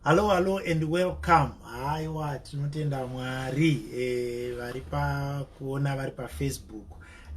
hallo hallo and welcome haiwa tinotenda mwari eh, vari pakuona vari pafacebook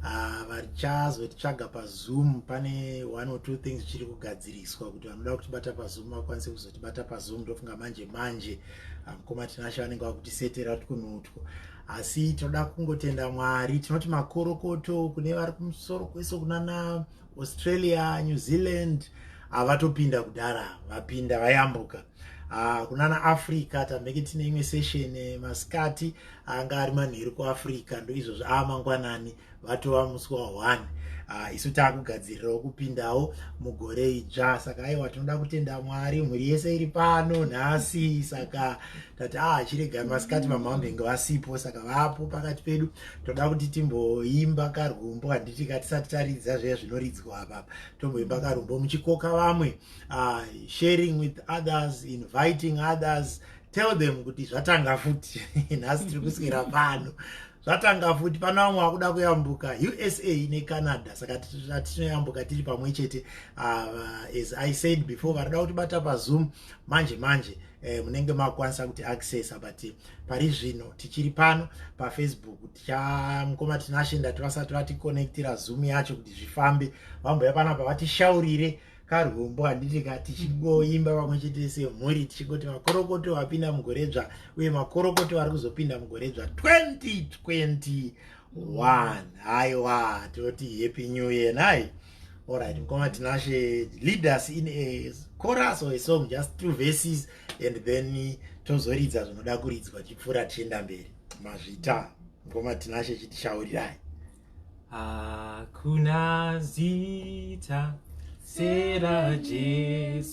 ah, varichazotitsvaga pazoom pane one or two things zvichiri kugadziriswa kuti vanoda kutibata pazoom vakwanise kuzotibata pazoom ndofunga manje manje ah, mukoma tinashe vanenge vakutisetera kuti kunotwo asi tinoda kungotenda mwari tinoti makorokoto kune vari kumusoro kwese kunana Australia, New Zealand havatopinda kudhara vapinda vayambuka ah, kunana africa tambeke tine imwe session eh, masikati anga ari manheru kuafrica ndoizvozvo aa ah, mangwanani vatova musi wa1 ah, isu taakugadzirirawo kupindawo mugore idzva saka aiwa tinoda kutenda mwari mhuri yese iri pano nhasi saka tati a ah, chirega masikati vamamhenge vasipo saka vapo pakati pedu toda kuti timboimba karwumbo handiti katisati taridza zviya zvinoridzwa apa tomboimba karwumbo muchikoka vamwe uh, sharing with others inviting others tell them kuti zvatanga futi nhasi tiri kuswera pano zvatanga futi pana vamwe vakuda kuyambuka usa necanada saka tinoyambuka tiri pamwe chete uh, as i said before varida kutibata pazoom manje manje eh, munenge makwanisa kuti accessa but pari zvino tichiri pano pafacebook tichamukoma tinashe ndati vasati vaticonnectira zoom yacho kuti zvifambe vamboya panapa vatishaurire karwumbo handiti ka tichingoimba mm-hmm. vamwe chete semhuri tichingoti makorokoto vapinda mugoredzva uye makorokoto vari kuzopinda mugoredzva 2021 haiwa toti happy new year nai nice. All right, Mkoma Tinashe, lead us in a chorus or a song, just two verses, and then tozoridza zvinoda kuridzwa tipfuura tichienda mberi. Mazvita, Mkoma Tinashe chitishaurirai. Hakuna zita sera Jesu.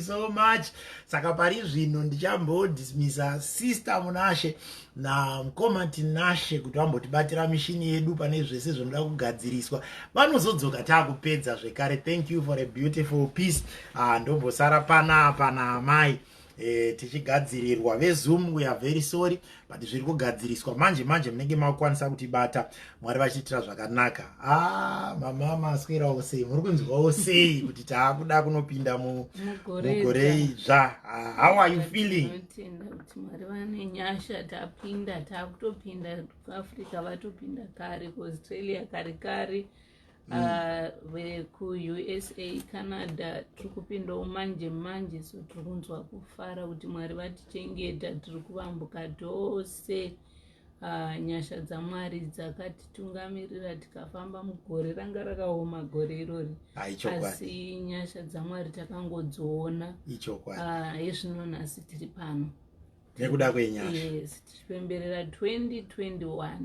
so much saka pari zvino ndichambodismisa sister munashe namukoma tinashe kuti vambotibatira mishini yedu pane zvese zvinoda kugadziriswa vanozodzoka taakupedza zvekare thank you for a beautiful peace ah, ndombosara pana pana amai eh, tichigadzirirwa vezoom we are very sorry but zviri kugadziriswa manje manje munenge makwanisa kutibata mwari vachiitira zvakanaka a ah, mamama aswerawo sei muri kunzwawo sei kuti taakuda kunopinda mugore idzva ah, how are you feeling mwari vane nyasha tapinda taakutopinda kuafrica vatopinda kare kuaustralia kare kare mm. ah, vekuusa canada tiri kupindawo manje manje so tiri kunzwa kufara kuti mwari vatichengeta tiri kuvambuka tose ah, nyasha dzamwari dzakatitungamirira tikafamba mugore ranga rakaoma gore irori asi nyasha dzamwari takangodziona ah, hezvino nhasi tiri pano nekuda kwenyasha yes tichipemberera 2021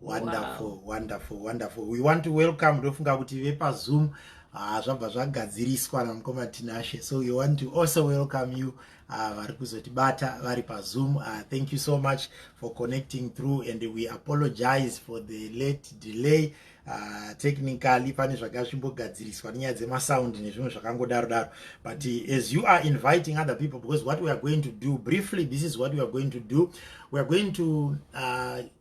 wonderful wow. wonderful wonderful we want to welcome ndofunga kuti vepazoom ah, zvabva uh, zvagadziriswa namukoma tinashe so we want to also welcome you ah, vari uh, kuzotibata vari pazoom uh, ah, thank you so much for connecting through and we apologize for the late delay uh, technically pane zvanga zvimbogadziriswa nenyaya dzemasound nezvimwe zvakangodaro daro but uh, as you are inviting other people because what we are going to do briefly this is what we are going to do we are going to uh,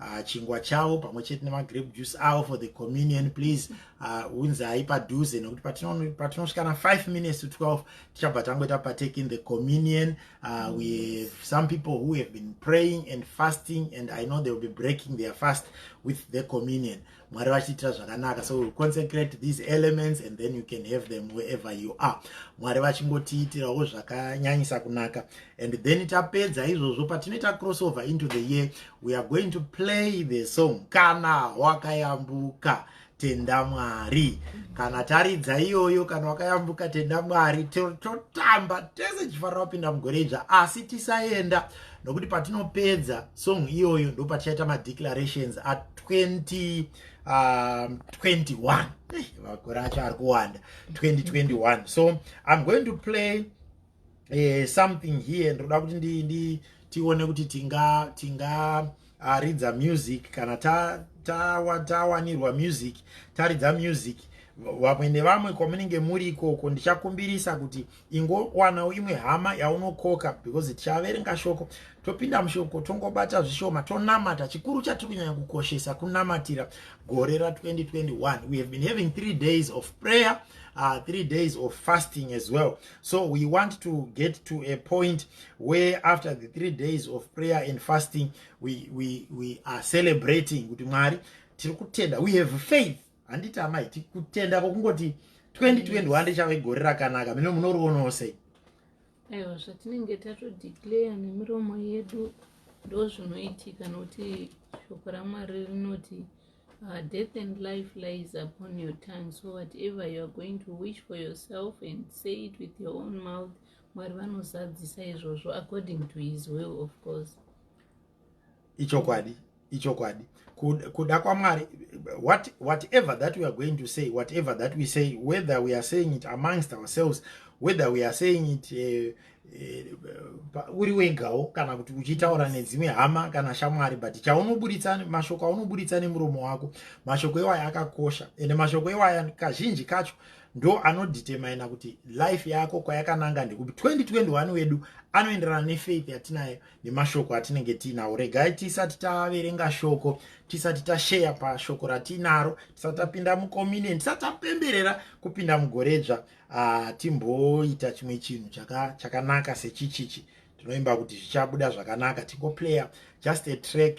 uh, chingwa chavo pamwe chete nemagrape juice avo for the communion please ah, unzai uh, padhuze nekuti patinosvika na 5 minutes to 12 tichabva tangoita partake in the communion uh, we have some people who have been praying and fasting and i know they will be breaking their fast with the communion mwari vachiitira zvakanaka so consecrate these elements and then you can have them wherever you are mwari vachingotiitirawo zvakanyanyisa kunaka and then tapedza izvozvo patinoita crossover into the year we are going to play the song kana wakayambuka tenda mwari kana taridza iyoyo kana wakayambuka tenda mwari totamba tese chifanira kupinda mugore idzva asi tisaenda nokuti patinopedza song iyoyo ndopatichaita madeclarations 2021 um, makore acho ari kuwanda 2021 so i'm going to play uh, something here ndinoda kuti ndi, ndi tione kuti tinga tinga uh, ridza music kana tawanirwa ta, ta music taridza music vamwe nevamwe kwamunenge muri ikoko ndichakumbirisa kuti ingowanawo imwe hama yaunokoka because tichaverenga shoko topinda mushoko tongobata zvishoma tonamata chikuru chatiri kunyanya kukoshesa kunamatira gore ra 2021 we have been having three days of prayer uh, three days of fasting as well so we want to get to a point where after the three days of prayer and fasting we, we, we are celebrating kuti mwari tiri kutenda we have faith handiti amai tikutenda kokungoti 2021 richave gore rakanaka mino munorionawo sei aiwa zvatinenge tatodeclare nemiromo yedu ndo zvinoitika nokuti shoko ramwari rinoti uh, death and life lies upon your tongue so whatever you are going to wish for yourself and say it with your own mouth mwari vanozadzisa izvozvo according to his will of course ichokwadi ichokwadi kuda kwamwari what, whatever that we are going to say whatever that we say whether we are saying it amongst ourselves whether we are saying it eh, eh, uri uh, uh, wegawo kana kuti uchitaura nedzimwe hama kana shamwari but chaunoburitsa mashoko aunoburitsa nemuromo wako mashoko iwaya akakosha ende mashoko iwaya kazhinji kacho ndo anodetermina kuti life yako kwayakananga ndekupi 2021 wedu anoenderana nefaith yatinayo nemashoko atinenge tiinawo regai tisati taverenga shoko tisati tasheya pashoko ratiinaro tisati tapinda mukomine tisati tapemberera kupinda mugoredzva ah, timboita chimwe chinhu chakanaka sechichichi tinoimba kuti zvichabuda zvakanaka tingoplayer just a track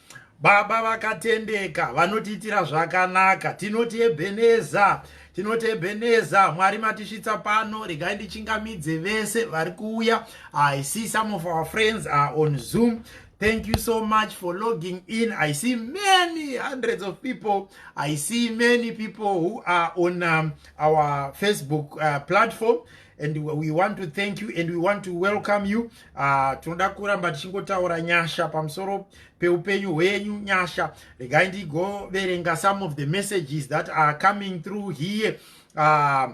baba vakatendeka vanotiitira zvakanaka tinoti ebheneza tinoti ebheneza mwari matisvitsa pano regai ndichingamidze vese vari kuuya i see some of our friends are on zoom thank you so much for logging in i see many hundreds of people i see many people who are on um, our facebook uh, platform and we want to thank you and we want to welcome you Uh, tinoda kuramba tichingotaura nyasha pamusoro peupenyu hwenyu nyasha regai ndigoverenga some of the messages that are coming through here uh,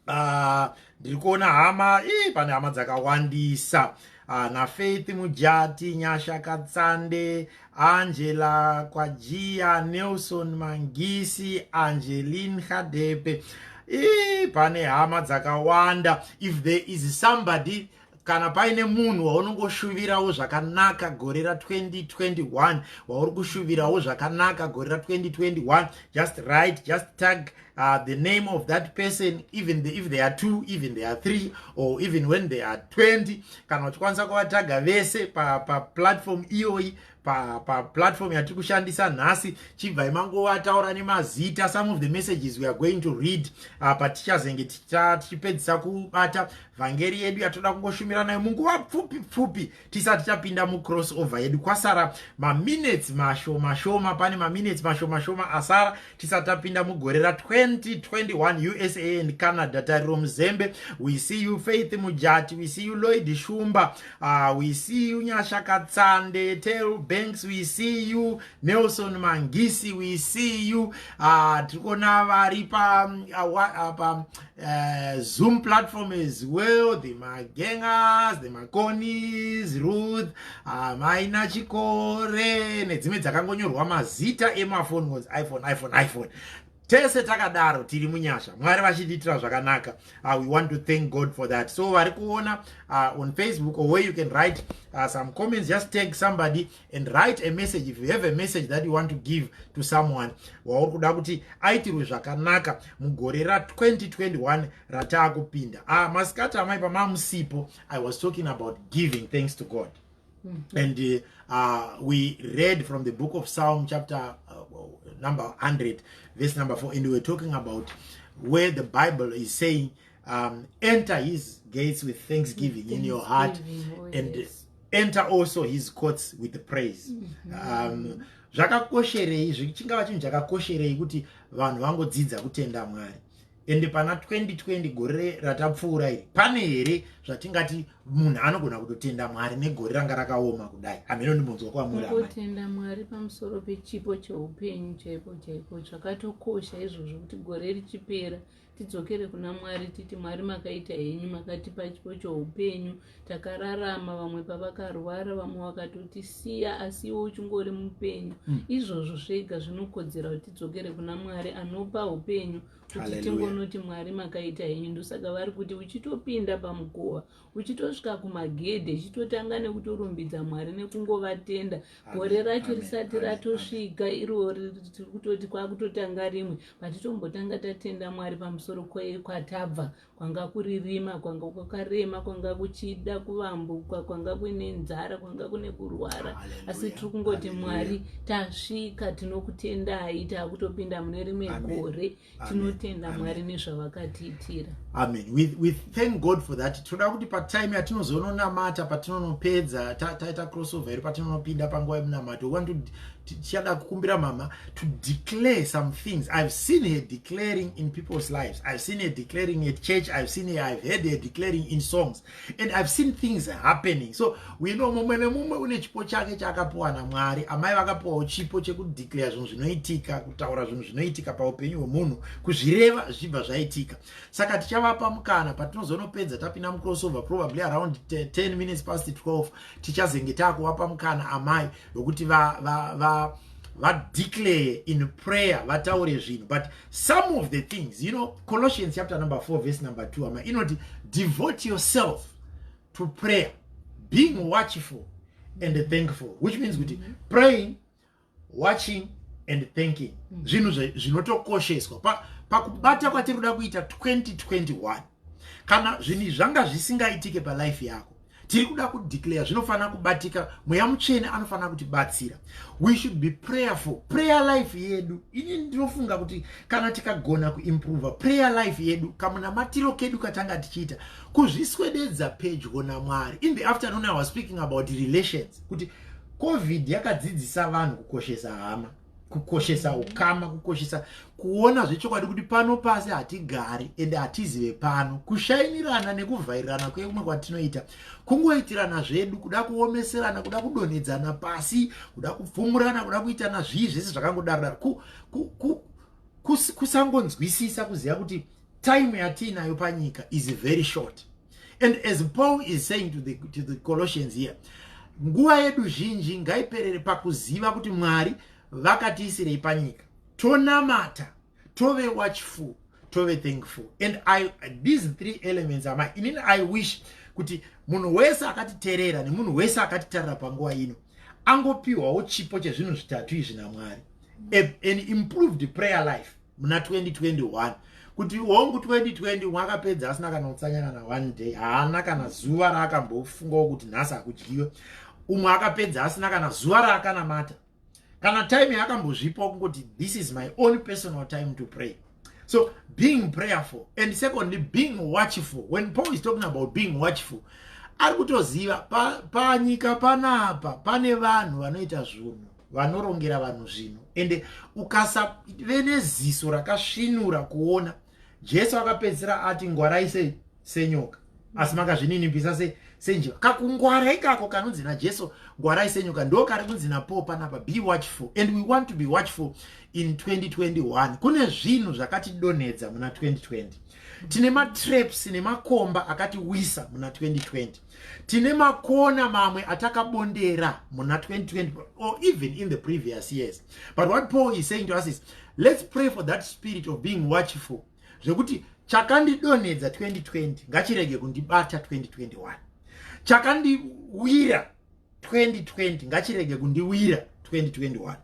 uh, ndiri kuona hama ii pane hama dzakawandisa uh, nafaith mujati nyasha katsande angela kwajiya nelson mangisi angelin hadepe ii pane hama dzakawanda if there is somebody kana paine munhu waunongoshuvirawo zvakanaka gore ra 2021 wauri kushuvirawo zvakanaka gore ra 2021 just write just tag uh, the name of that person even the, if they are two even they are three or even when they are 20 kana uchikwanisa kuvataga vese paplatform pa iyoyi paplatform pa yatiri kushandisa nhasi chibvai mangova taura nemazita some of the messages weare going to read uh, patichazenge tichipedzisa kubata vhangeri yedu yatoda kungoshumira nayo munguva pfupi pfupi tisati tapinda mucross over yedu kwasara maminutes mashoma shoma pane maminutes mashoma shoma asara tisati tapinda mugore ra 2021 usa and canada tariro muzembe we see you faith mujati we see you loid shumba Ah, we see you Nyasha Katsande, Tel Banks, we see you Nelson Mangisi, we see you ah, Trikona Varipa, um, ah, um, uh, Zoom platform as well, the Magengas, the Makonis, Ruth, ah, Maina Chikore, nedzimwe dzakangonyorwa mazita emaphone, iPhone, iPhone, iPhone. tese takadaro tiri munyasha mwari vachitiitira zvakanaka uh, we want to thank god for that so vari kuona uh, on facebook or where you can write uh, some comments just take somebody and write a message if you have a message that you want to give to someone wauri kuda kuti aitirwe zvakanaka mugore ra 2021 rataa kupinda uh, masikati amai pamamusipo i was talking about giving thanks to god Mm -hmm. And uh, uh, we read from the book of Psalm, chapter uh, number 100, verse number 4, and we were talking about where the Bible is saying, um, Enter his gates with thanksgiving, thanksgiving in your heart, oh, and yes. enter also his courts with praise. Mm -hmm. um, zvakakosherei chingava chinhu chakakosherei kuti vanhu vangodzidza kutenda mwari ende pana 2020 gore ratapfuura iri pane here zvatingati munhu anogona kutotenda mwari negore ranga rakaoma kudai hameno ndimunzwa kwamurikutenda mwari pamusoro pechipo cheupenyu chaipo chaipo zvakatokosha izvozvo kuti gore richipera tidzokere kuna mwari titi mwari makaita henyu makatipa chipo cheupenyu takararama vamwe pavakarwara vamwe vakatotisiya asi iwe uchingori mupenyu mm. izvozvo zvega zvinokodzera kuti tidzokere kuna mwari anopa upenyu kuti tingonoti mwari makaita henyu ndosaka vari kuti uchitopinda pamukova uchitosvika kumagedhe chitotanga nekutorumbidza mwari nekungovatenda gore racho risati ratosvika iriwo tiri kutoti kwakutotanga rimwe patitombotanga tatenda mwari pamusoro kwatabva kwanga kuri rima kwanga kwakarema kwanga kuchida kuvambuka kwanga kuine nzara kwanga kune kurwara asi tiri kungoti mwari tasvika tinokutendai taakutopinda mune rimwe gore tinotenda mwari nezvavakatiitira amen we, we thank god for that tinoda kuti patime yatinozononamata patinonopedza taita crossover iri patinonopinda panguva yemunamato we want to tichada kukumbira mama to declare some things i've seen her declaring in people's lives i've seen her declaring at church i've seen her i've heard her declaring in songs and i've seen things happening so we know mumwe nemumwe une chipo chake chaakapiwa namwari amai vakapiwawo chipo chekudeclare zvinhu zvinoitika kutaura zvinhu zvinoitika paupenyu hwemunhu kuzvireva zvichibva zvaitika saka tichavapa mukana patinozonopedza tapinda mucrossover probably around 10 minutes past 12 tichazenge taakuvapa mukana amai vekuti va, va, va, va declare in prayer vataure zvinhu but some of the things you know colossians chapter number 4 verse number 2 ama inoti devote yourself to prayer being watchful and thankful which means kuti mm -hmm. praying watching and thanking mm. zvinhu zvinotokosheswa pakubata pa kwatiri kuda kuita 2021 kana zvinhu zvanga zvisingaitike palife yako tiri kuda kudeclare zvinofanira kubatika mweya mutsvene anofanira kutibatsira we should be prayerful prayer life yedu ini ndinofunga kuti kana tikagona kuimprove prayer life yedu kamunamatiro kedu katanga tichiita kuzviswededza pedyo namwari in the afternoon i was speaking about relations kuti covid yakadzidzisa vanhu kukoshesa hama kukoshesa ukama kukoshesa kuona zvechokwadi kuti pano pasi hatigari ende hatizive pano kushainirana nekuvhairirana kweumwe kwatinoita kungoitirana zvedu kuda kuomeserana kuda kudonhedzana pasi kuda kupfumurana kuda kuitana zvii zvese zvakangodarodaro ku, ku, ku, kusangonzwisisa kuziva kuti time yatiinayo panyika is very short and as paul is saying to the, to the colossians here nguva yedu zhinji ngaiperere pakuziva kuti mwari vakatiisirei panyika tonamata tove watchful tove thankful and I, these three elements ama inini i wish kuti munhu wese akatiterera nemunhu wese akatitarira panguva ino angopiwawo chipo chezvinhu zvitatu izvi namwari an improved prayer life muna 2021 kuti hongu 2020 wakapedza asina kana utsanya kana one day haana kana zuva raakambofungawo kuti nhasi hakudyiwe umwe akapedza asina kana zuva raakanamata kana time yaakambozvipawo kungoti this is my own personal time to pray so being prayerful and secondly being watchful when paul is talking about being watchful ari kutoziva panyika pa panapa pane vanhu vanoita zvunhu vanorongera vanhu zvinhu ende ukasave neziso rakasvinura kuona jesu akapedzisira ati ngwarai se senyoka asi makazvininipisa se senjiva kakungwara ikako kanonzi najesu ngwarai senyoka ndo kari kunzi napaul panapa be watchful and we want to be watchful in 2021 kune zvinhu zvakatidonhedza muna 2020 tine matraps nemakomba akatiwisa muna 2020 tine makona mamwe atakabondera muna 2020 or even in the previous years but what paul is saying to us is let's pray for that spirit of being watchful zvekuti chakandidonhedza 2020 ngachirege kundibata 2021 chakandiwira 2020 ngachirege kundiwira 2021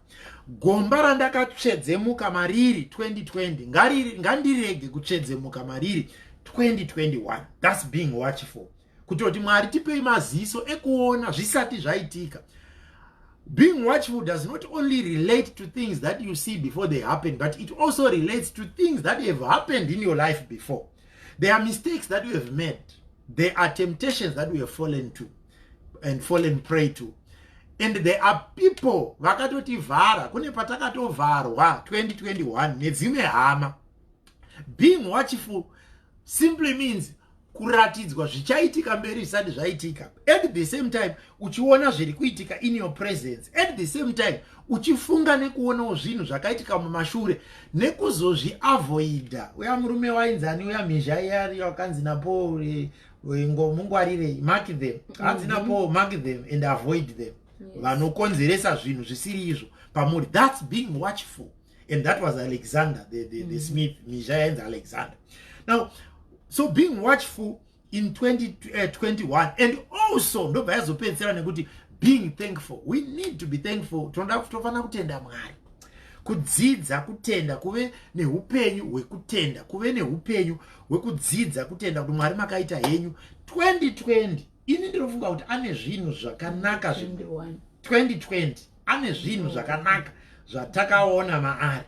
gomba randakatsvedzemuka mariri 2020 ngandirege kutsvedzemuka mariri 2021 thus being watchful kutoti mwari tipei maziso ekuona zvisati zvaitika being watchful does not only relate to things that you see before they happen but it also relates to things that have happened in your life before there are mistakes that you have made there are temptations that you have fallen to and fallen prey to and there are people vakatotivhara kune patakatovharwa 2021 nedzimwe hama being watchful simply means kuratidzwa zvichaitika mberi zvisati zvaitika at the same time uchiona zviri kuitika in your presence at the same time uchifunga nekuonawo zvinhu zvakaitika mumashure nekuzozviavoida uya murume wainzani uya mhizha iyari wakanzi napaul ingomungwarirei mark them hanzi na mhm. paul mark them and avoid them vanokonzeresa zvinhu zvisiri izvo pamuri thats being watchful and that was alexander the, the, the mhm. smith mizha yainzi alexander now so being watchful in 2021 eh, and also ndobva yazopedzisira nekuti being thankful we need to be thankful tinoda tofanira kutenda mwari kudzidza kutenda kuve neupenyu hwekutenda kuve neupenyu wekudzidza kutenda kuti mwari makaita henyu 2020 ini ndinofunga kuti ane zvinhu zvakanaka zvi 2020 ane zvinhu zvakanaka zvatakaona maari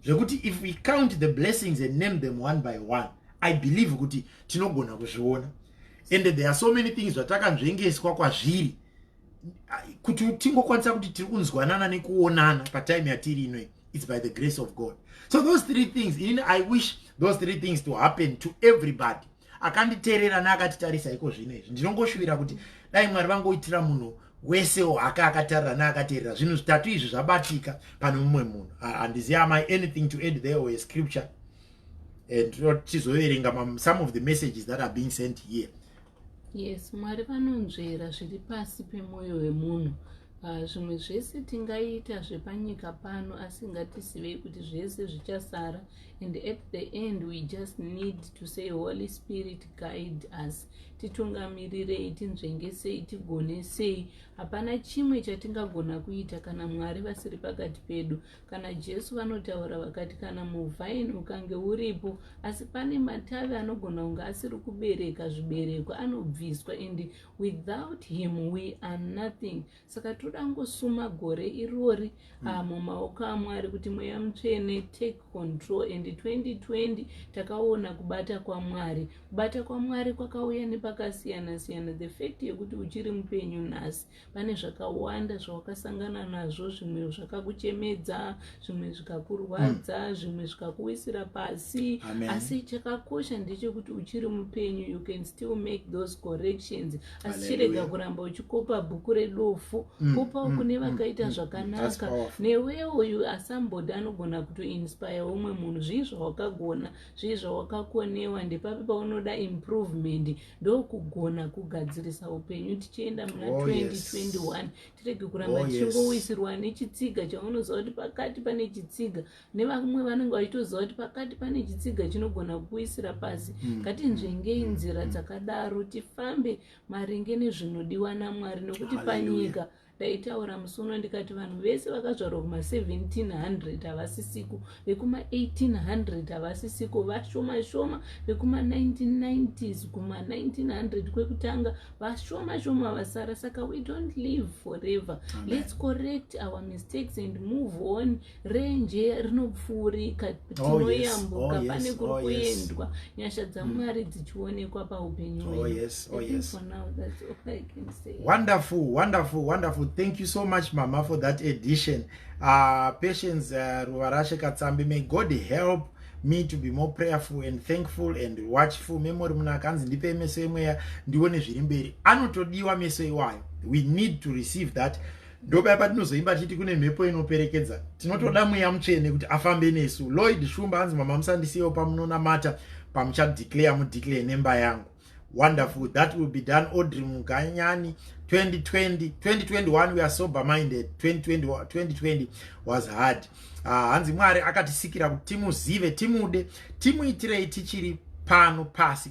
zvekuti if we count the blessings and name them one by one i believe kuti tinogona kuzviona and there are so many things zvatakanzvengeswa kwazviri kuti tingokwanisa kuti tiri kunzwanana nekuonana patime yatiri inoi it's by the grace of god so those three things in i wish those three things to happen to everybody akanditeerera neakatitarisa iko zvino izvi ndinongoshuvira kuti dai mwari vangoitira munhu wese wake akatarira neakateerera zvinhu zvitatu izvi zvabatika pane mumwe munhu handizi amai anything to add there or a scripture and tizoverenga some of the messages that are being sent here yes mwari vanonzvera zviri pasi pemwoyo wemunhu ah, zvimwe uh, zvese tingaita zvepanyika pano asi ngatisivei kuti zvese zvichasara and at the end we just need to say holy spirit guide us titungamirirei tinzvengesei tigonesei hapana chimwe chatingagona kuita kana mwari vasiri pakati pedu kana jesu vanotaura vakati kana muvhaini ukange uripo asi pane matavi anogona kunge asiri kubereka zvibereko anobviswa and without him we are nothing saka toda kungosuma gore irori hmm. ah, mumaoko amwari kuti mweya mutsvene take control and 2020 takaona kubata kwamwari kubata kwamwari kwakauya nepakasiyana siyana the fact yekuti uchiri mupenyu nhasi pane zvakawanda zvawakasangana nazvo zvimwe zvakakuchemedza zvimwe zvikakurwadza mm. zvimwe zvikakuwisira pasi Amen. asi chakakosha ndechekuti uchiri mupenyu you can still make those corrections asi chirega kuramba uchikopa bhuku redofu mm. kopawo mm. kune mm. vakaita mm. zvakanaka newewo you are somebody anogona kutoinspire umwe munhu zvii zvawakagona zvii zvawakakonewa ndepapi paunoda improvement ndokugona kugadzirisa upenyu tichienda muna oh, 2021 yes. tirege kuramba oh, tichingowisirwa yes. nechitsiga chaunoziva kuti pakati pane chitsiga nevamwe vanenge vachitoziva kuti pakati pane chitsiga chinogona kukuisira pasi mm. ngatinzvengei mm. nzira mm. dzakadaro tifambe maringe nezvinodiwa namwari nokuti panyika ndaitaura musi uno ndikati vanhu vese vakazvarwa kuma 1700 havasisiko vekuma 1800 havasisiko vashoma shoma vekuma 1990s kuma 1900 kwekutanga vashoma shoma vasara saka we don't live forever Amen. let's correct our mistakes and move on renje rinopfuurika oh, tinoyambuka oh, pane kuri oh, kuendwa nyasha dzamwari hmm. dzichionekwa paupenyu wonderful wonderful wonderful thank you so much mama for that edition uh, patience uh, ruvarashe katsambi may god help me to be more prayerful and thankful and watchful memory muna akanzi ndipe meso emweya ndione zviri mberi anotodiwa meso iwayo we need to receive that ndopaya patinozoimba tichiti kune mhepo inoperekedza tinotoda mweya mutsvene kuti afambe nesu lloyd shumba anzi mama musandisiyewo pamunonamata pamuchadeclare mudeclare nemba yangu wonderful that will be done audrey muganyani 2020 2021 we are sober minded 2020, 2020 was hard ah, hanzi uh, mwari akatisikira kuti timuzive timude timuitirei tichiri pano pasi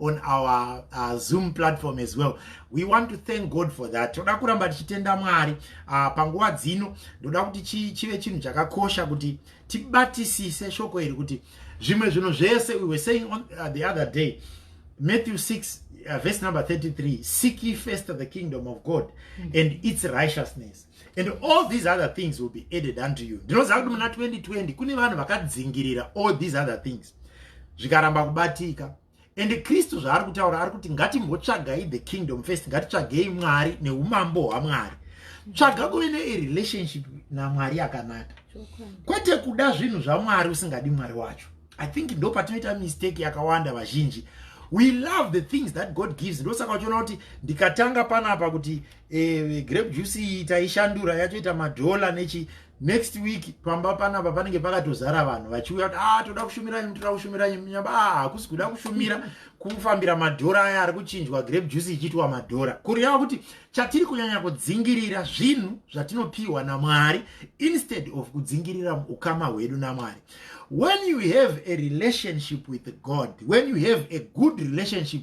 on our uh, zoom platform as well we want to thank god for that toda kuramba tichitenda mwari uh, panguva dzino ndoda kuti chi, chive chinhu chakakosha kuti tibatisise shoko iri kuti zvimwe zvinhu zvese we were saying on uh, the other day matthew 6 uh, verse number 33 seek ye first the kingdom of god mm -hmm. and its righteousness and all these other things will be added unto you ndinoziva kuti muna 2020 kune vanhu vakadzingirira all these other things zvikaramba kubatika and kristu zvaari kutaura ari kuti ngatimbotsvagai the kingdom first ngatitsvagei mwari neumambo hwamwari tsvaga kuve nerelationship namwari yakanaka kwete kuda zvinhu zvamwari usingadi mwari wacho i think ndo patinoita mistake yakawanda vazhinji we love the things that god gives ndosaka uchiona kuti ndikatanga panapa kuti eh, grape juice iyi taishandura yatoita madhola nechi next week pamba panapa panenge pakatozara vanhu vachiuya kuti ah toda kushumira nyu toda kushumira nyu nyamba ah hakusi kuda kushumira kufambira madhora aya ari kuchinjwa grape juice ichiitwa madhora kureva kuti chatiri kunyanya kudzingirira zvinhu zvatinopiwa namwari instead of kudzingirira ukama hwedu namwari when you have a relationship with god when you have a good relationship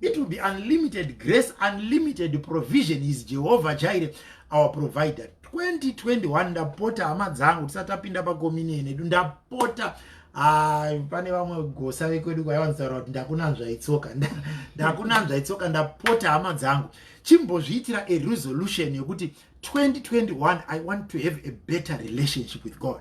It will be unlimited grace, unlimited provision. He is Jehovah Jireh, our provider. 2021 ndapota hama dzangu tisatapinda pakomine nedu ndapota ah, pane vamwe gosa vekwedu kwaivanzitaura kuti ndakunanzva itsoka ndakunanzva itsoka ndapota hama dzangu chimbozviitira a resolution yekuti 2021 i want to have a better relationship with god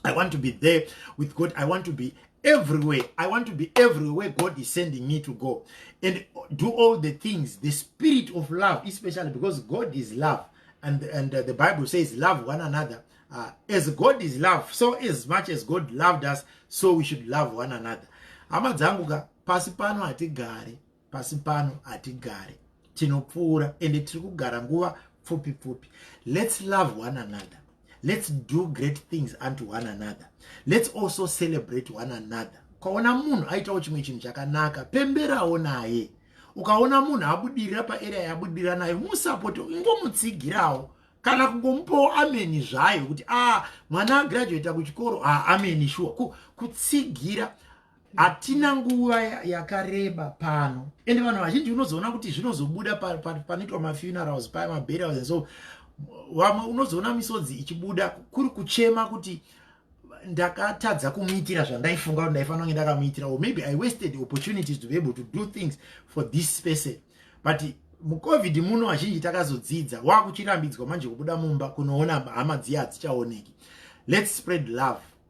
i want to be there with god i want to be everywhere i want to be everywhere god is sending me to go and do all the things the spirit of love especially because god is love and and uh, the bible says love one another uh, as god is love so as much as god loved us so we should love one another hama dzangu ka pasi pano hatigare pasi pano hatigare tinopfuura ende tiri kugara nguva pfupi pfupi let's love one another let's do great things unto one another let's also celebrate one another ukaona munhu aitawo chimwe chinhu chakanaka pemberawo naye ukaona munhu abudirira paarea yabudirira nayo musapoti ingomutsigirawo kana kungomupawo ameni zvayo kuti a ah, mwana agraduata kuchikoro a ah, ameni shuwa kutsigira hatina nguva yakareba pano ende vanhu vazhinji unozoona kuti zvinozobuda panoitwa mafunerals paya maburials and so vamwe unozoona misodzi ichibuda kuri kuchema kuti ndakatadza kumuitira zvandaifunga kuti ndaifanira kunge ndakamuitira or maybe i wasted opportunities to be able to do things for this person but mucovid muno vazhinji takazodzidza wakuchirambidzwa manje kubuda mumba kunoona hama dziya hadzichaoneki let's spread love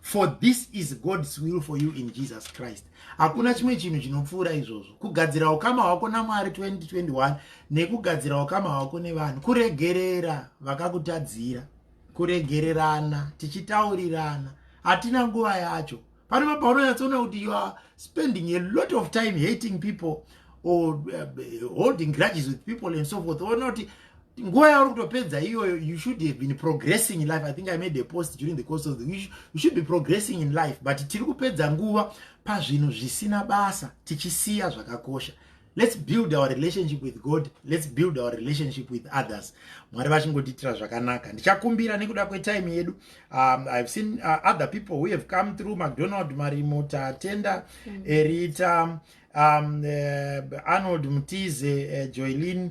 for this is god's will for you in jesus christ hakuna chimwe chinhu chinopfuura izvozvo kugadzira ukama hwako namwari 2021 nekugadzira ukama hwako nevanhu kuregerera vakakutadzira kuregererana tichitaurirana hatina nguva yacho panova paunonyatsoona kuti you are spending a lot of time hating people or uh, holding grudges with people and so forth onoti nguva yauri kutopedza iyoyo you should have been progressing in life i think i made a post during the course of the week you should be progressing in life but tiri kupedza nguva pazvinhu zvisina basa tichisiya zvakakosha let's build our relationship with god let's build our relationship with others mwari vachingotiitira zvakanaka ndichakumbira nekuda kwetime yedu um, ihave seen uh, other people who have come through macdonald marimo tatenda mm. erita um, uh, arnold mtize uh, joylin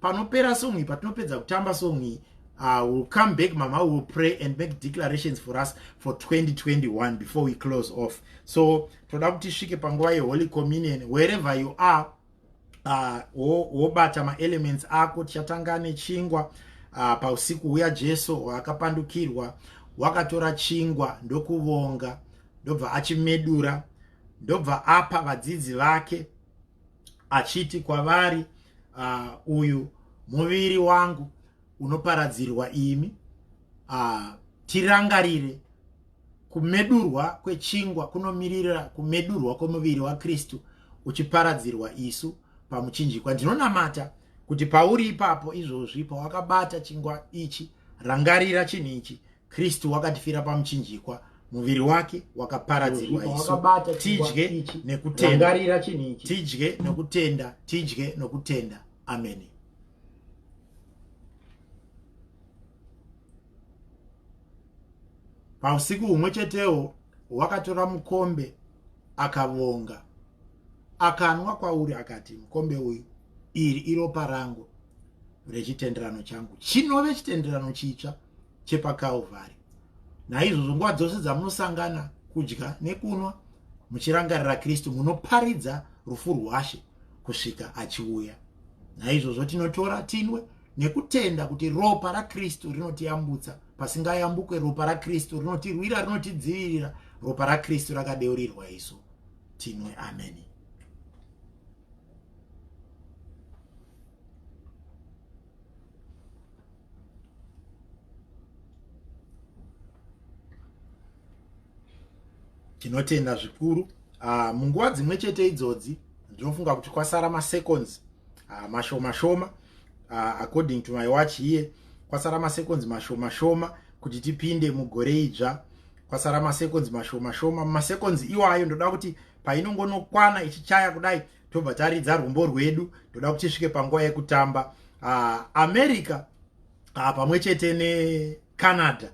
panopera song iyi patinopedza kutamba song iyi uh, will come back mama will pray and make declarations for us for 2021 before we close off so toda kuti svike panguva yeholy communion wherever you are uh, wobata uh, maelements ako tichatanga nechingwa uh, pausiku huya jesu waakapandukirwa wakatora chingwa ndokuvonga ndobva achimedura ndobva apa vadzidzi vake achiti kwavari uh, uyu muviri wangu unoparadzirwa imi uh, tirangarire kumedurwa kwechingwa kunomirira kumedurwa kwomuviri wakristu uchiparadzirwa isu pamuchinjikwa ndinonamata kuti pauri ipapo izvozvi pawakabata chingwa ichi rangarira chinhu ichi kristu wakatifira pamuchinjikwa muviri wake wakaparadzirwa isu tidye nekutenda tidye nokutenda tidye nokutenda ameni pausiku humwe chetewo wakatora mukombe akavonga akanwa kwauri akati mukombe uyu iri iropa rangu rechitenderano changu chinove chitenderano chitsva chepakalvari naizvozvo nguva dzose dzamunosangana kudya nekunwa muchirangarira kristu munoparidza rufu rwashe kusvika achiuya naizvozvo tinotora tinwe nekutenda kuti ropa rakristu rinotiyambutsa pasingayambukwe ropa rakristu rinotirwira rinotidzivirira ropa rakristu rakadeurirwa isu tinwe ameni tinotenda zvikuru uh, munguva dzimwe chete idzodzi ndinofunga kuti kwasara maseconds uh, mashoma shoma uh, according to my watch here kwasara maseconds mashoma shoma kuti tipinde mugore idzva kwasara maseconds mashoma shoma maseconds iwayo ndoda kuti painongonokwana ichichaya kudai tobva taridza rwumbo rwedu ndoda kuti svike panguva yekutamba uh, america uh, pamwe chete necanada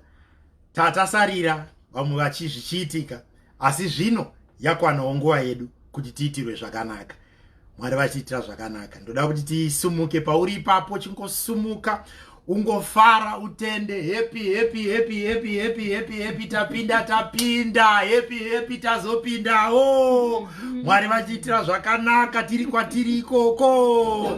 tatasarira vamwe vachizvichiitika asi zvino yakwanawo nguva yedu kuti tiitirwe zvakanaka mwari vatiitira zvakanaka ndoda kuti tisumuke pauri ipapo chingosumuka ungofara utende happy happy happy happy happy happy happy tapinda tapinda happy happy tazopindawo mwari vachiitira zvakanaka tiri kwatiri ikoko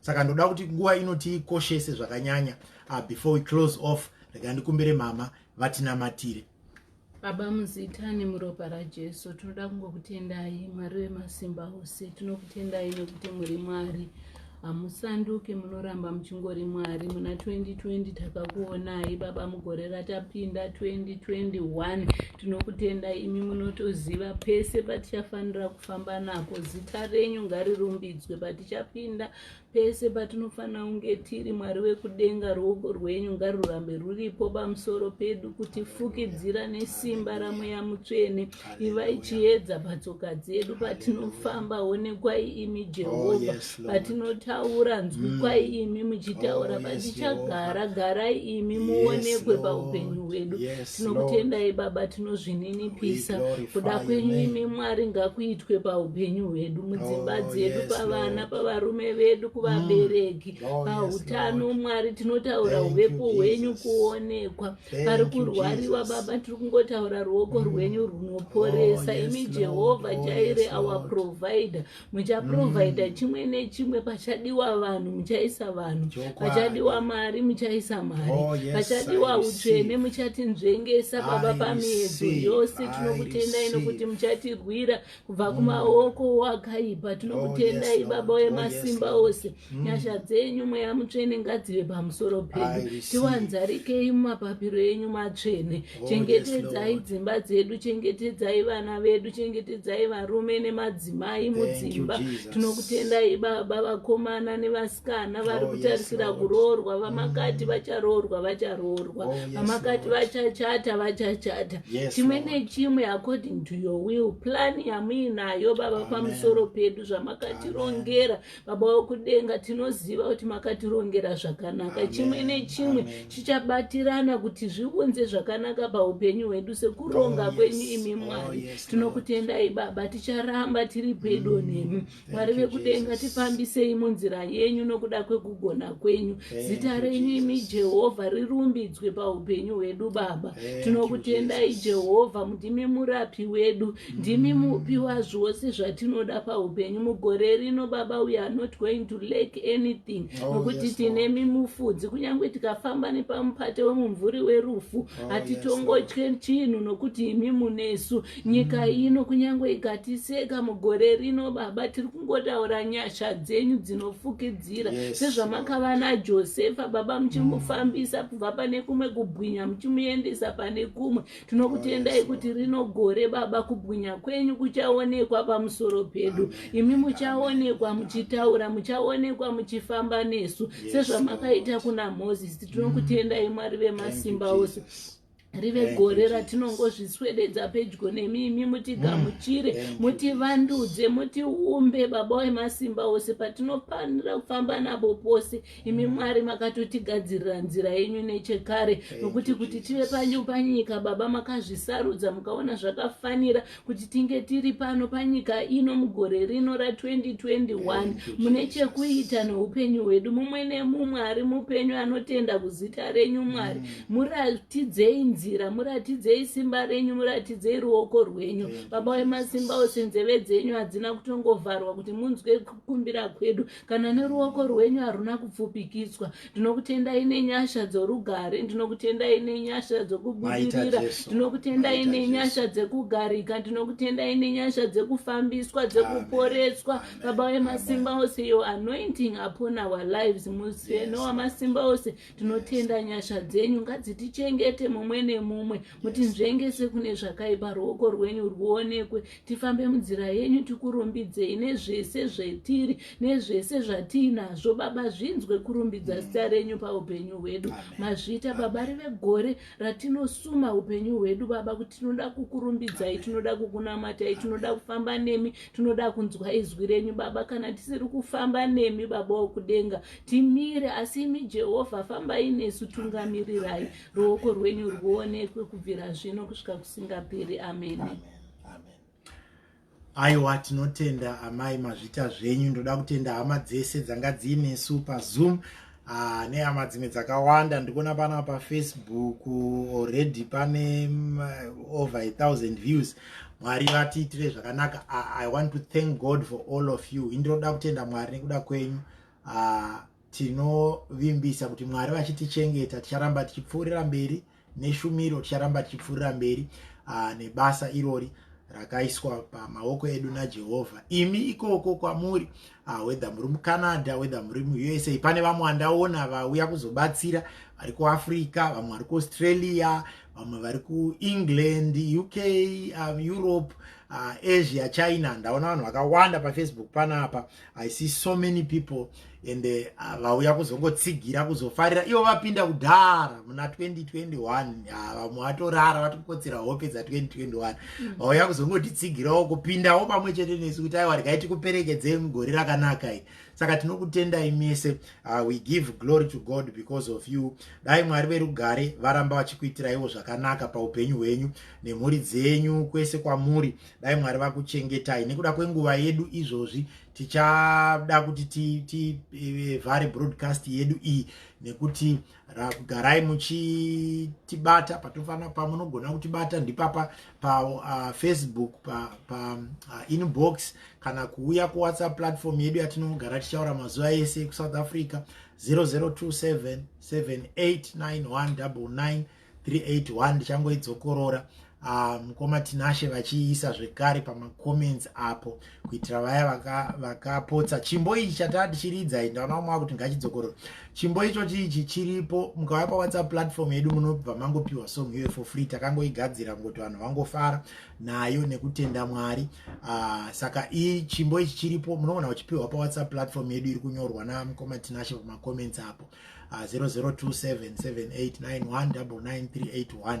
saka ndoda kuti nguva ino tiikoshese zvakanyanya uh, before we close off rega ndikumbire mama vatinamatire baba muzita nemuropa rajesu tinoda kungokutendai mwari wemasimba ose tinokutendai nekuti muri mwari hamusanduke munoramba muchingori mwari muna 2020 takakuonai baba mugore ratapinda 2021 tinokutendai imi munotoziva pese patichafanira famba nako zita renyu ngarirumbidzwe patichapinda pese patinofanira kunge tiri mwari wekudenga ruoko rwenyu ngarurambe ruripo pamusoro pedu kutifukidzira nesimba ramweya mutsvene ivai chiedza patsoka dzedu patinofamba onekwai imi jehovha oh, patinotaura nzwikwai mm. imi muchitaura oh, patichagara garai imi muonekwe paupenyu hwedu tinokutendai baba tinozvininipisa kuda kwenyu imi mwari ngakuitwe paupenyu hwedu mudzimba oh, dzedu pavana pavarume vedu kuvabereki mm. oh, pautano mwari tinotaura uvepo hwenyu kuonekwa pari kurwariwa baba tiri kungotaura ruoko mm. rwenyu runoporesa imi jehovha chaire our provider muchaprovidha mm. chimwe nechimwe pachadiwa vanhu muchaisa vanhu pachadiwa mari muchaisa mari oh, yes, pachadiwa utsvene muchatinzvengesa baba pamiedzo yose tinokutendai nokuti muchatirwira kubva mm. kumaoko wakaipa oh, tinokutendai yes, baba wemasimba oh, yes, ose mm. nyasha dzenyu mweya mutsvene ngadzive pamusoro pedu tiwanzarikei mumapapiro enyu matsvene Oh, chengetedzai dzimba dzedu chengetedzai vana vedu chengetedzai varume nemadzimai mudzimba tinokutendai baba vakomana nevasikana oh, vari kutarisira kuroorwa vamakati mm. vacharoorwa vacharoorwa oh, vamakati vachachata vachachata chimwe nechimwe according to your will plan yamuinayo baba pamusoro pedu zvamakatirongera baba wekudenga tinoziva kuti makatirongera zvakanaka chimwe nechimwe chichabatirana kuti zviunze zvakanaka paupenyu hwedu sekuronga oh, kwenyu imi oh, mwari tinokutendai baba ticharamba tiri pedo mm, nemi mwari vekudenga tifambisei munzira yenyu nokuda kwekugona kwenyu zita renyu imi jehovha rirumbidzwe paupenyu hwedu baba tinokutendai jehovha mudimi murapi wedu ndimi mupi wazvose zvatinoda paupenyu mugore rino baba we are not going to lack anything oh, nokuti oh, tine mimufudzi kunyange tikafamba nepamupate wemumvuri werufu oh, hatitongotye yes, chinhu nokuti imi munesu nyika mm. ino kunyange ikatiseka mugore rino baba tiri kungotaura nyasha dzenyu dzinofukidzira yes, sezvamakava najosefa baba muchimufambisa mm. kubva pane kumwe kubwinya muchimuendesa pane kumwe tinokutendai kuti rino gore baba kubwinya kwenyu kuchaonekwa pamusoro pedu imi muchaonekwa muchitaura muchaonekwa muchifamba nesu sezvamakaita kuna moses tinokutendai mwari vemasimba ose rive gore ratinongozviswededza pedyo nemi imi mutigamuchire mm. mutivandudze mutiumbe baba wemasimba ose patinofanira kufamba nabo pose imi mwari makatotigadzirira nzira yenyu nechekare nokuti kuti tive panyu panyika baba makazvisarudza mukaona zvakafanira kuti tinge tiri pano panyika ino mugore rino ra2021 mune chekuita noupenyu hwedu mumwe nemumwe ari mupenyu anotenda kuzita renyu mwari mm. muratidzei nzira muratidzei simba renyu muratidzei ruoko rwenyu baba wemasimba ose nzeve dzenyu hadzina kutongovharwa kuti munzwe kukumbira kwedu kana neruoko rwenyu haruna kupfupikitswa ndinokutendai nenyasha dzorugare ndinokutendai nenyasha dzokubudirira ndinokutendai nenyasha dzekugarika ndinokutendai nenyasha dzekufambiswa dzekuporeswa baba wemasimba ose yo anointing upon our lives museno wamasimba ose tinotenda nyasha dzenyu ngadzitichengete mumwe nemumwe mutinzvengese kune zvakaipa ruoko rwenyu rwuonekwe tifambe munzira yenyu tikurumbidzei nezvese zvetiri nezvese zvatiinazvo baba zvinzwe kurumbidza mm. zita renyu paupenyu hwedu mazvita baba rive gore ratinosuma upenyu hwedu baba kuti tinoda kukurumbidzai tinoda kukunamatai tinoda kufamba nemi tinoda kunzwa izwi renyu baba kana tisiri kufamba nemi baba wokudenga timire asi imi jehovha fambai nesu tungamirirai ruoko rwenyu rwuonekwe kubvira zvino kusvika kusingaperi ameni amen aiwa tinotenda amai mazvita zvenyu ndoda kutenda hama dzese dzanga dziinesu pazoom ah, nehama dzimwe dzakawanda ndikuona pana pafacebook already pane mm, over a thousand views mwari vatiitire zvakanaka ah, i want to thank god for all of you indinoda kutenda mwari nekuda kwenyu uh, tinovimbisa kuti mwari vachitichengeta ticharamba tichipfuurira mberi neshumiro ticharamba tichipfuurira mberi uh, nebasa irori rakaiswa pamaoko edu najehovha imi ikoko kwamuri ah, wedha muri mucanada wedha muri muusa pane vamwe vandaona vauya kuzobatsira vari kuafrica vamwe vari kuaustralia vamwe vari kuengland uk um, europe uh, asia china ndaona vanhu vakawanda pafacebook panapa i see so many people and eh, ah, vauya uh, kuzongotsigira kuzofarira ivo vapinda kudhara muna 2021 ah, vamwe vatorara vati kukotsera hope dza 2021 mm. vauya mm. kuzongotitsigirawo kupindawo pamwe chete nesu kuti aiwa rikai tikuperekedzei mugore rakanaka i saka tinokutendai mese uh, we give glory to god because of you dai mwari verugare varamba vachikuitiraiwo zvakanaka paupenyu hwenyu nemhuri dzenyu kwese kwamuri dai mwari vakuchengetai nekuda kwenguva yedu izvozvi tichada kuti tivhare eh, broadcast yedu iyi nekuti garai muchitibata patofanira pamunogona kutibata ndipapa pafacebook ah, painbox pa, uh, kana kuuya kuwhatsapp platform yedu yatinogara tichaura mazuva ese kusouth africa 0027 789199 381 ndichangoidzokorora ah, mukoma um, tinashe vachiisa zvekare pamacomments apo kuitira vaya vakapotsa vaka chimbo ichi chataa tichiridza i ndaona umwe wakuti ngachidzokorora chimbo icho chiichi chiripo mukauya pawhatsapp platform yedu munobva mangopiwa song iyoyo for free takangoigadzira ngokuti vanhu vangofara nayo nekutenda mwari uh, saka i chimbo ichi chiripo munoona uchipiwa pawhatsapp platform yedu iri kunyorwa namukoma tinashe pamacomments apo uh, 002778919938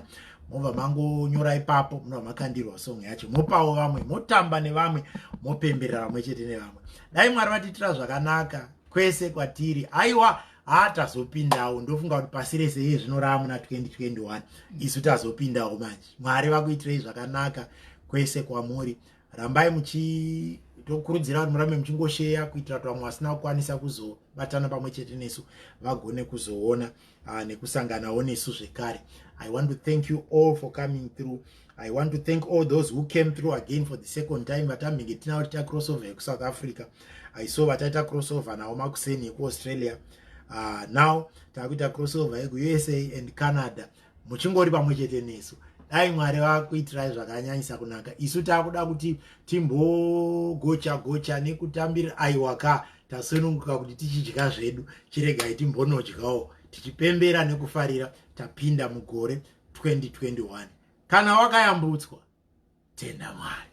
mobva mangonyora ipapo munobva makandirwa song yacho mopawo vamwe motamba nevamwe mopemberera vamwe chete nevamwe dai mwari vatiitira zvakanaka kwese kwatiri aiwa haa tazopindawo ndofunga kuti pasi rese iye zvino raa muna 2021 isu tazopindawo manje mwari vakuitirei zvakanaka kwese kwamuri rambai muchitokurudzira vanhu murambe muchingosheya kuitira kuti vamwe vasina kukwanisa kuzobatana pamwe chete nesu vagone kuzoona uh, nekusanganawo nesu zvekare i want to thank you all for coming through i want to thank all those who came through again for the second time vatambenge tinavo tiita crossover yekusouth africa i saw vataita crossover navo makuseni yekuaustralia uh, now takuita crossover yekuusa and canada muchingori pamwe chete nesu dai mwari vakuitirai zvakanyanyisa kunaka isu takuda kuti timbogocha gocha nekutambira aiwaka tasununguka kuti tichidya zvedu chiregai timbonodyawo tichipembera nekufarira tapinda mugore 2021 kana wakayambutswa tenda mwari